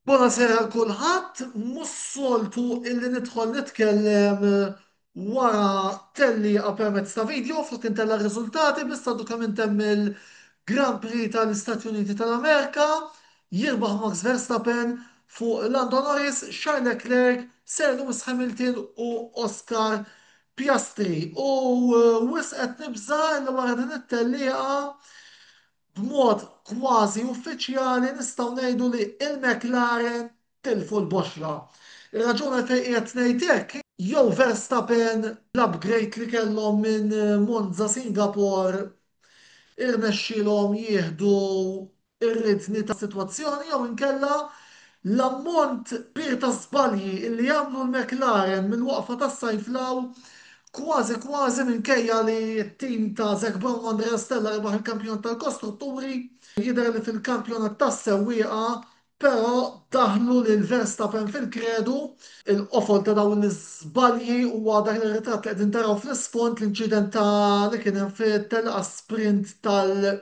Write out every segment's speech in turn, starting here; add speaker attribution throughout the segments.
Speaker 1: Bonasera għal kulħadd, mhux soltu illi nidħol nitkellem wara tellieqa permezz ta' video flok intella' r-riżultati biss għadu kemm intemm il-Grand Prix tal-Istati Uniti tal-Amerika, jirbaħ Max Verstappen fuq Lando Norris, Charles Leclerc, Sir Lewis Hamilton u Oscar Piastri. U wisq qed nibża' illi wara din it-tellieqa B'mod kważi uffiċjali nistgħu ngħidu li l-McLaren tilfu l-boxra. Ir-raġun għalfejn qiegħed ngħid hekk, jew Verstappen bl-upgrade li kellhom minn Monza Singapore irnexxielhom jieħdu r-ridni tas-sitwazzjoni jew inkella L-ammont kbir ta' żbalji li għamlu l-McLaren mill-waqfa tas-sajf 'l hawn, kważi kważi minkejja li t-tim ta' Zac Brown u Andrea Stella rebaħ il-Kampjonat tal-Kostrutturi, jidher li fil-Kampjonat tas-Sewwieqa però daħlu lil Verstappen fil-kredu. Il-qofol ta' dawn l-iżbalji huwa dak ir-ritratt li qegħdin taraw fl-isfond, l-inċident ta' li kien hemm fit-telqa sprint tal-.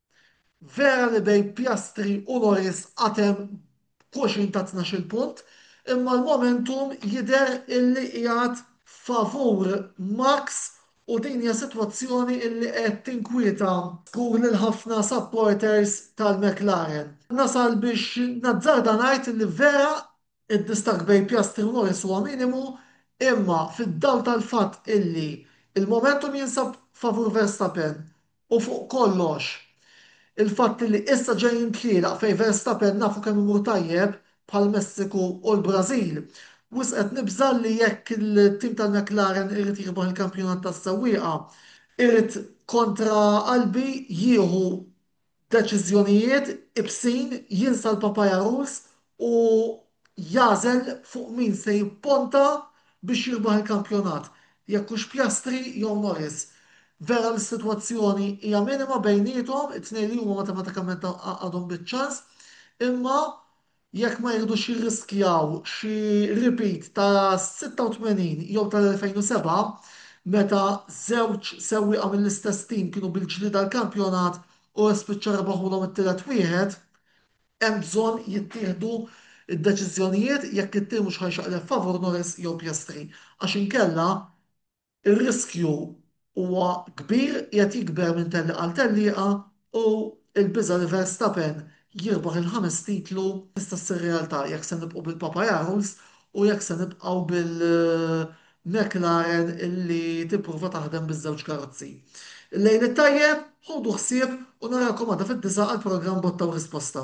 Speaker 1: Vera li bejn Piastri u Norris għad hemm xulxin ta' tnax-il punt, imma l-momentum jidher illi qiegħed favur Max u din hija sitwazzjoni illi qed tinkwieta żgur lil ħafna supporters tal-McLaren. Nasal biex nazzarda ngħid illi vera Id-distakk bejn Piastri u Norris huwa minimu imma fid-dawl tal-fatt illi l-momentum jinsab favur Verstappen u fuq kollox il-fatt illi issa ġejjin tlielaq fejn Verstappen nafu kemm imur tajjeb bħall-Messiku u l-Brażil, wisq qed nibża' li jekk it-tim tal-McLaren irid jirbaħ il-kampjonat tas-sewwieqa irid kontra qalbi jieħu deċiżjonijiet ibsin jinsa l-papajaruż u jagħżel fuq min se jipponta biex jirbaħ il-kampjonat, jekk hux Piastri jew Norris. Vera li s-sitwazzjoni hija minima bejniethom, it-tnejn li huma matematikament għadhom biċ-ċans, imma jekk ma jridux jirriskjaw xi repeat tas-86 jew tal-2007 meta żewġ sewwieqa mill-istess tim kienu bil-ġlied għall-kampjonat u spiċċa rebaħulhom it-tielet wieħed, hemm bżonn jittieħdu d-deċiżjonijiet jekk it-tir mhux ħa jxaqleb favur Norris jew Piastri għax inkella, Ir-riskju huwa kbir, qiegħed jikber minn tellieqa għal tellieqa u l-biża' li Verstappen jirbaħ il-ħames titlu tista' ssir realtà jekk se nibqgħu bil-Papayarls u jekk se nibqgħu bil-McLaren li tipprova taħdem biż-żewġ karozzi. Il-lejl it-tajjeb, ħudu ħsieb u narakom għada fid-disgħa għall-programm Botta u Risposta.